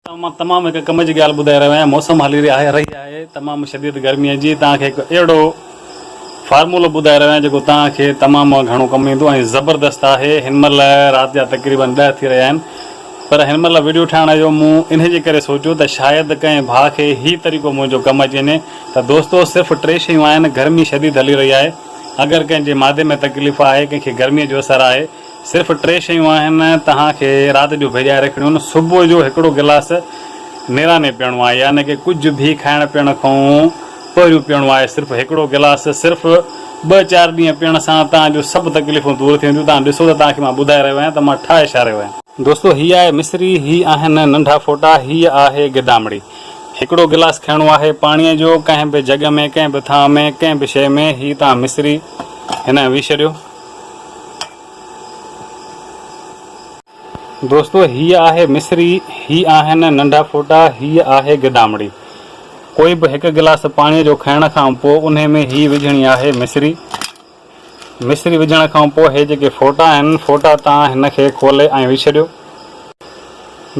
توهان مان تمام هڪ ڪم جي ڳالهه ٻڌائي رهيو آهيان موسم هلي رهي آهي رهي آهي تمام شديد گرمي جي توهان کي هڪ اهڙو فارمولو ٻڌائي رهيو آهيان جيڪو توهان کي تمام گهڻو ڪم ايندو ۽ زبردست آهي هن مهل رات جا تقريبن ڏهه ٿي رهيا آهن پر هن مهل وڊيو ٺاهڻ جو مون انهي جي ڪري سوچيو ته شايد ڪنهن ڀاء کي هي طريقو منهنجو ڪم اچي وڃي ته دوستو صرف ٽي شيون آهن گرمي شديد هلي رهي آهي اگر ڪنهن جي معدي ۾ تڪليف آهي ڪنهن کي گرمي جو اثر آهي صرف ٽي شيون آهن توهان کي رات جو ڀيڄائي رکڻيون، صبح جو هڪڙو گلاس نيراني پيئڻو آهي يعني ڪه ڪجهه به کائڻ پيئڻ کانئون پهريون پيئڻو آهي صرف هڪڙو گلاس صرف ٻه چار ڏينهن پيئڻ سان توهان جون سڀ تڪليفون دور ٿي وينديون توهان ڏسو ته توهان کي مان ٻڌائي رهيو آهيان ته مان ٺاهي ڇا رهيو آهيان. دوستو هي آهي مصري هي آهن ننڍا ڦوٽا هي آهي گدامڙي هڪڙو گلاس کڻڻو آهي پاڻيء جو ڪنهن به جڳ ۾ ڪنهن به ٿانء ۾ ڪنهن به شيء ۾ هي توهان مصري هن ويهه ڇڏيو. دوستو هيء آهي مصري، هي آهن ننڍا ڦوٽا، هيء آهي گدامڙي. ڪوئي به هڪ گلاس پاڻيء جو کائڻ کان پوء انهي ۾ هيء وجهڻي آهي مصري. مصري وجهڻ کان پوء هي جيڪي ڦوٽا آهن، ڦوٽا تان هن کي کولي ۽ وجهي ڇڏيو.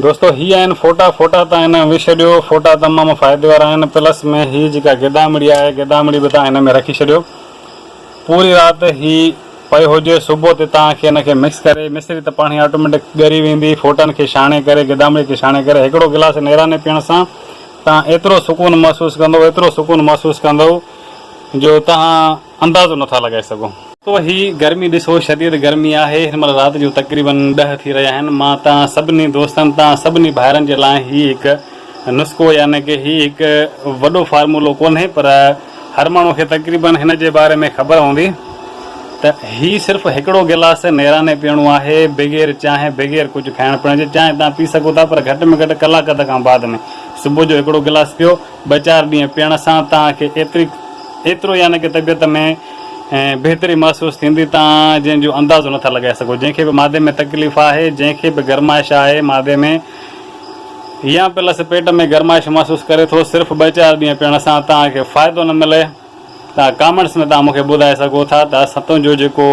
دوستو هي آهن ڦوٽا، ڦوٽا تان هن ۾ وجهي ڇڏيو. ڦوٽا تمام فائدي وارا آهن. پلس ۾ هيء جيڪا گدامڙي آهي، گدامڙي به تان هن ۾ رکي ڇڏيو. پوري رات هي پيو هجي صبح تي تان کي ان کي مڪس ڪري مصري ته پاڻهي آٽوميٽڪ ڳري ويندي ڦوٽن کي ڇاڻي ڪري گدامڙي کي ڇاڻي ڪري هڪڙو گلاس نيراني پيئڻ سان تان ايترو سڪون محسوس ڪندو ايترو سڪون محسوس ڪندو جو تان اندازو نه ٿا لڳائي سگهو. تو هي گرمي ڏسو شديد گرمي آهي هن مهل رات جو تقريبن ڏهه ٿي رهيا آهن مان تان سڀني دوستن تان سڀني ڀائرن جي لاء هي هڪ نسخو يعني ڪه هي هڪ وڏو فارمولو ڪونهي پر هر ماڻهو کي تقريبن هن جي باري ۾ خبر هوندي ته هي صرف هڪڙو گلاس نيراني پيئڻو آهي بغير چانهه بغير ڪجهه کائڻ پيئڻ جي چانهه توهان پي سگهو ٿا پر گهٽ ۾ گهٽ ڪلاڪ اڌ کان بعد ۾ صبح جو هڪڙو گلاس پيو ٻه چار ڏينهن پيئڻ سان توهان کي ايتري ايترو يعني ڪه طبيعت ۾ بهتري محسوس ٿيندي توهان جنهن جو اندازو نٿا لڳائي سگهو جنهن کي به معدي ۾ تڪليف آهي جنهن کي به گرمائش آهي معدي ۾ يا پلس پيٽ ۾ گرمائش محسوس ڪري ٿو صرف ٻه چار ڏينهن پيئڻ سان توهان کي فائدو نه ملي ته ڪامينٽس ۾ توهان مون کي ٻڌائي سگهو ٿا ته اسان تنهنجو جيڪو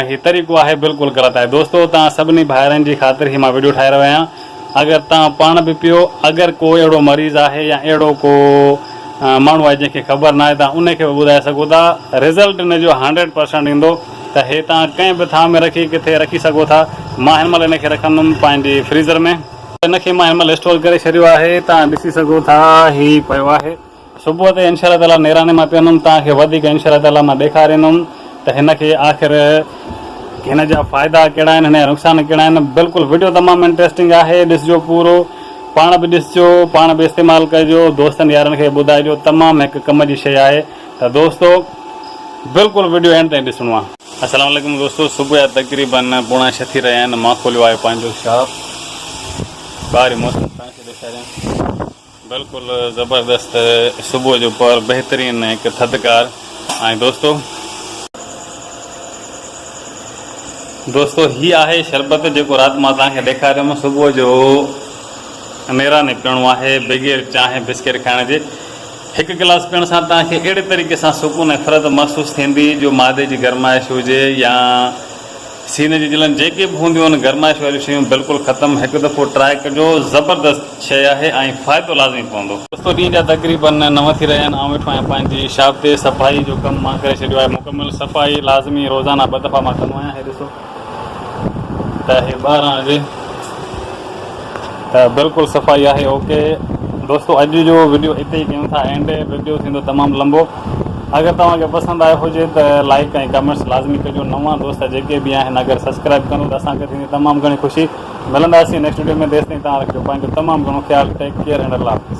هي طريقو آهي بلڪل غلط آهي دوستو توهان سڀني ڀائرن جي خاطر هي مان وڊيو ٺاهي رهيو آهيان اگر توهان پاڻ به پيو اگر ڪو اهڙو مريض آهي يا اهڙو ڪو ماڻهو آهي جنهن کي خبر ناهي توهان ان کي به ٻڌائي سگهو ٿا رزلٽ ان جو هنڊريڊ پرسنٽ ايندو ته هي توهان ڪنهن به ٿانء ۾ رکي ڪٿي رکي سگهو ٿا. مان هن مهل هن کي رکندم پنهنجي فريزر ۾. هن کي مان هن مهل اسٽور ڪري ڇڏيو آهي. توهان ڏسي سگهو ٿا هي پيو آهي. صبح تي انشاء الله تعاليٰ نيراڻي مان پيئندم توهان کي وڌيڪ انشاء الله تعاليٰ مان ڏيکاريندم ته هن کي آخر هن جا فائدا ڪهڙا آهن هن جا نقصان ڪهڙا آهن. بلڪل وڊيو تمام انٽريسٽنگ آهي ڏسجو پورو پاڻ به ڏسجو پاڻ به استعمال ڪجو دوستن يارن کي ٻڌائجو تمام هڪ ڪم جي شئي آهي. ته دوستو بلڪل وڊيو اينڊ تائين ڏسڻو آ. السلام عليڪم دوستو صبح جا تقريبن پوڻا ڇهه ٿي رهيا آهن مان کوليو آهي پنهنجو شاپ ٻاهرين موسم توهان کي ڏيکاريان بلڪل زبردست صبح جو پهر بهترين هڪ ٿڌڪار ۽ دوستو دوستو هي آهي شربت جيڪو رات مان توهان کي ڏيکاريم صبح جو نيراني پيئڻو آهي بغير چانهه بسڪيٽ کائڻ جي هڪ گلاس پيئڻ سان توهان کي اهڙي طريقي سان سڪون ۽ فرحت محسوس ٿيندي جو معدي جي گرمائش هجي يا سيني جي جلن جيڪي به هونديون آهن گرمائش واريون شيون بلڪل ختم هڪ دفعو ٽرائي ڪجو زبردست شيء آهي ۽ فائدو لازمي پوندو. دوستو ڏينهن جا تقريبن نو ٿي رهيا آهن آئون ويٺو آهيان پنهنجي شاپ تي صفائي جو ڪم مان ڪري ڇڏيو آهي مڪمل صفائي لازمي روزانه ٻه دفعا مان ڪندو آهيان هي ڏسو. ته هي ٻاهران هجي ته بلڪل صفائي آهي اوڪي دوستو اڄ جو وڊيو اتي ئي ڪيون ٿا اينڊ وڊيو ٿيندو تمام لمبو اگر توهان کي پسند آيو هجي ته لائڪ ۽ ڪمينٽس لازمي ڪجو نوان دوست جيڪي به آهن اگر سبسڪرائب ڪندو ته اسان کي ٿيندي تمام گهڻي خوشي ملنداسين نيڪسٽ وڊيو ۾ تيستائين توهان رکجو پنهنجو تمام گهڻو خيال ٽيڪ ڪيئر اينڊ الله حافظ